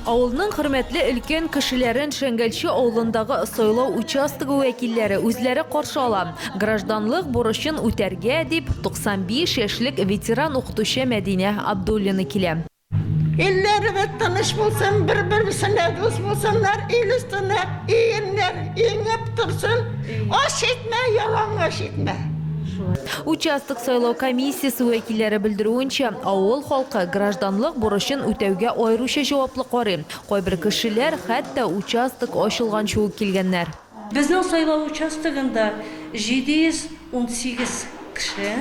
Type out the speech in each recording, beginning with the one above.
Авылның хөрмәтле өлкән кешеләрен Шәңгәлче авылындагы сайлау участогы вәкилләре үзләре каршы ала. Гражданлык бурычын үтәргә дип, 95 яшьлек ветеран укытучы Мәдинә Абдуллина килә. Илләребез тыныч булсын, бер-берсенә дус булсыннар, ил өстенә иеннәр иңеп торсын, ач итмә, ялангач итмә! Участок сайлау комиссиясе вәкилләре белдерүенчә, авыл халкы гражданлык бурычын үтәүгә аеруча җаваплы карый. Кайбер кешеләр хәтта участок ачылганчы ук килгәннәр. Безнең сайлау участогында 718 кеше,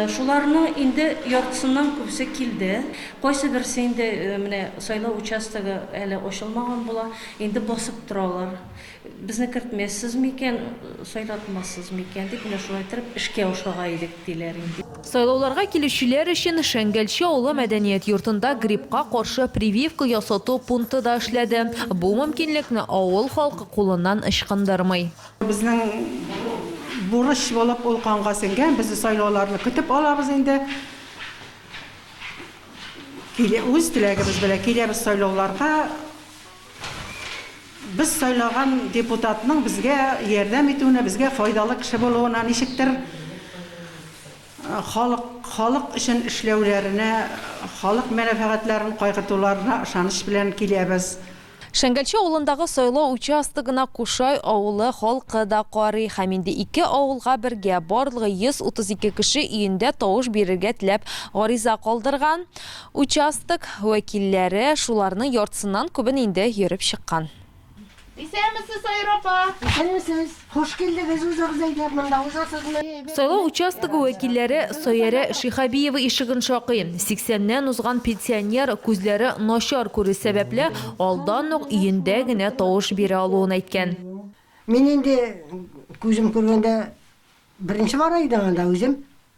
шуларның инде яртысыннан күбесе килде. Кайсыберсе инде менә сайлау участогы әле ачылмаган була, инде басып торалар. Безне кертмәссез микән, сайлатмассыз микән дип, менә шулай торып эшкә ашыга идек, диләр инде. Сайлауларга килүчеләр өчен Шәңгәлче авылы мәдәният йортында гриппка каршы прививка ясату пункты да эшләде. Бу мөмкинлекне авыл халкы кулыннан ычкындырмый. Безнең бурыч булып ул канга сеңгән, без сайлауларны көтеп алабыз инде. Үз теләгебез белән киләбез сайлауларга. Без сайлаган депутатның безгә ярдәм итүенә, безгә файдалы кеше булуына, ничектер халык, халык өчен эшләүләренә, халык мәнәфәгатьләрен кайгыртуларына ышаныч белән киләбез. Шәңгәлче авылындагы сайлау участогына Кушай авылы халкы да карый һәм инде ике авылга бергә, барлыгы 132 кеше өендә тавыш бирергә теләп гариза калдырган. Участок вәкилләре шуларның яртысыннан күбен инде йөреп чыккан. Исәнмесез, Саир апа! Исәнмесез! Хуш килдегез, узыгыз әйдәп, монда узасызмы? Сайлау участогы вәкилләре Саиәрә Шиһабиева ишеген шакый. Сиксәннән узган пенсионер күзләре начар күрү сәбәпле, алдан ук өендә генә тавыш бирә алуын әйткән. Мин инде күзем күргәндә беренче бара идем анда үзем.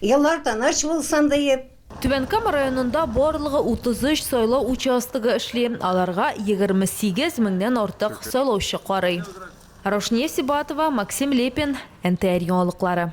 Еллар тыныч булсын диеп. Түбән Кама районында барлыгы 33 сайлау участогы эшли, аларга 28 меңнән артык сайлаучы карый. Раушния Сибатова, Максим Лепин, НТР яңалыклары.